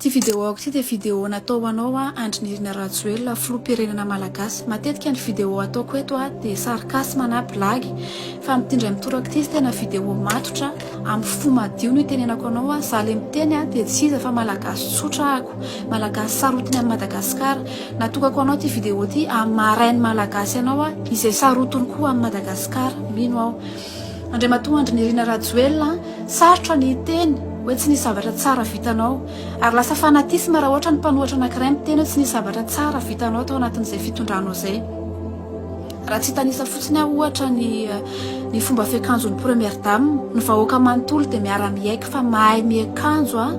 Ty vidéo ako ty dia vidéo natao ho anao aho Andry Nirina Rajoelina filoham-pirenena Malagasy. Matetika ny vidéo ataoko eto aho dia sarcasme na blague fa amin'ity indray mitoraka ity izy tena vidéo matotra amin'ny fo madio no itenenako anao aho. Za le miteny aho dia tsy iza fa Malagasy tsotra ako, Malagasy sarotiny an'i Madagasikara. Natokako ho anao ity vidéo ity hahamarain'ny Malagasy anao aho izay sarotiny koa amin'i Madagasikara. Mino aho. Andriamatoa Andry Nirina Rajoelina a! Sarotra ny hiteny hoe tsy nisy zavatra tsara vitanao. Ary lasa fanatisme raha ohatra ny mpanohatra anankiray miteny hoe tsy nisy zavatra tsara vitanao tao anatin'izay fitondranao izay. Raha tsy hitanisa fotsiny aho ohatra ny ny fomba fiakanjon'ny Première Dame, ny vahoaka manontolo dia miara-miaiky fa mahay miakanjo a!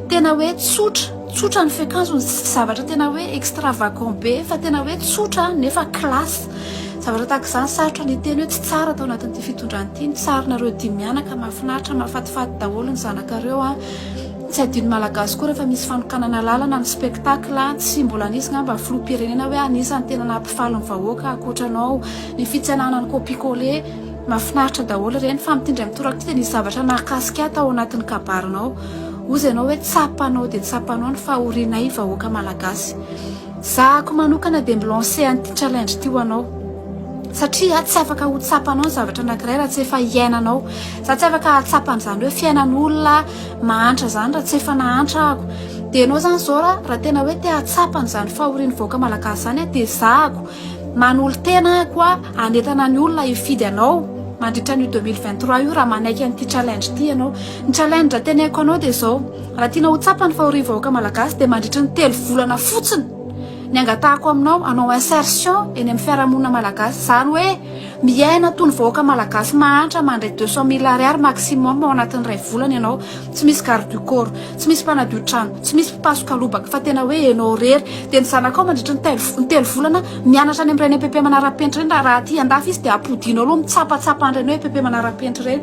Tena hoe tsotra, tsotra ny fiakanjony, tsy zavatra tena hoe extravagant be fa tena hoe tsotra nefa classe. Zavatra tahaka izany sarotra ny hiteny hoe tsy tsara tao anatin'ity fitondrana ity, ny sarinareo dimy mianaka mahafinaritra, mahafatifaty daholo ny zanakareo an! Tsy adino malagasy koa rehefa misy fanokanana lalana ny spectacle an! Tsy mbola nisy ngamba filoham-pirenena hoe anisan'ny tena nahampifaly ny vahoaka ankoatra anao, ny fitsenana ny copie coller, mahafinaritra daholo ireny fa amin'ity indray mitoraka ity dia nisy zavatra nahakasika ahy tao anatin'ny kabarinao, hozy ianao hoe tsapa anao dia tsapa anao ny fahorianay vahoaka malagasy. Zahako manokana dia mi-lancer an'ity challenge ity ho anao satria tsy afaka ho tsapanao ny zavatra anankiray raha tsy efa hiainanao. Za tsy afaka hahatsapa an'izany hoe fiainan'olona mahantra izany raha tsy efa nahantra ahako. Dia ianao izany izao ra raha tena hoe te hahatsapa an'izany fahorian'ny vahoaka malagasy izany aho dia zahako manolo-tena ahako a hanentana ny olona hifidy anao mandritra an'io deux mille vingt trois io raha manaiky an'ity challenge ity ianao. Ny challenge teneniko anao dia izao. Raha tianao ho tsapa ny fahorian'ny vahoaka malagasy dia mandritry ny telo volana fotsiny ny angatahako aminao hanao insertion eny amin'ny fiarahamonina malagasy, izany hoe miaina toy ny vahoaka malagasy mahantra mandray deux cent mille ariary maximum ao anatin'ny iray volana ianao, tsy misy garde du corps, tsy misy mpanadio trano, tsy misy mpapasoka lobaka fa tena hoe ianao irery dia ny zanakao mandritry ny telo ny telo volana mianatra any amin'ireny EPP manarapenitra ireny raha raha aty andafy izy dia ampodianao aloha mitsapatsapa an'ireny hoe EPP manarapenitra ireny.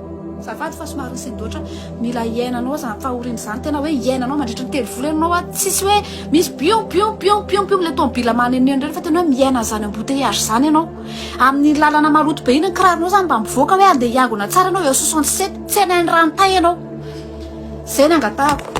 Azafady fa somary nisindoatra, mila hiainanao zany fahorian'izany, tena hoe hiainanao mandritry ny telo volana ianao an, tsisy hoe misy biom biom biom biom biom le tomobila manenoneno ireny fa tena hoe miaina an'izany embouteillage zany ianao, amin'iny lalana maloto be iny ny kiraronao zany mba mivoaka hoe andeha hiangona tsara ianao eo soixante sept, tsy any any Ranotay ianao, zay no angatahako.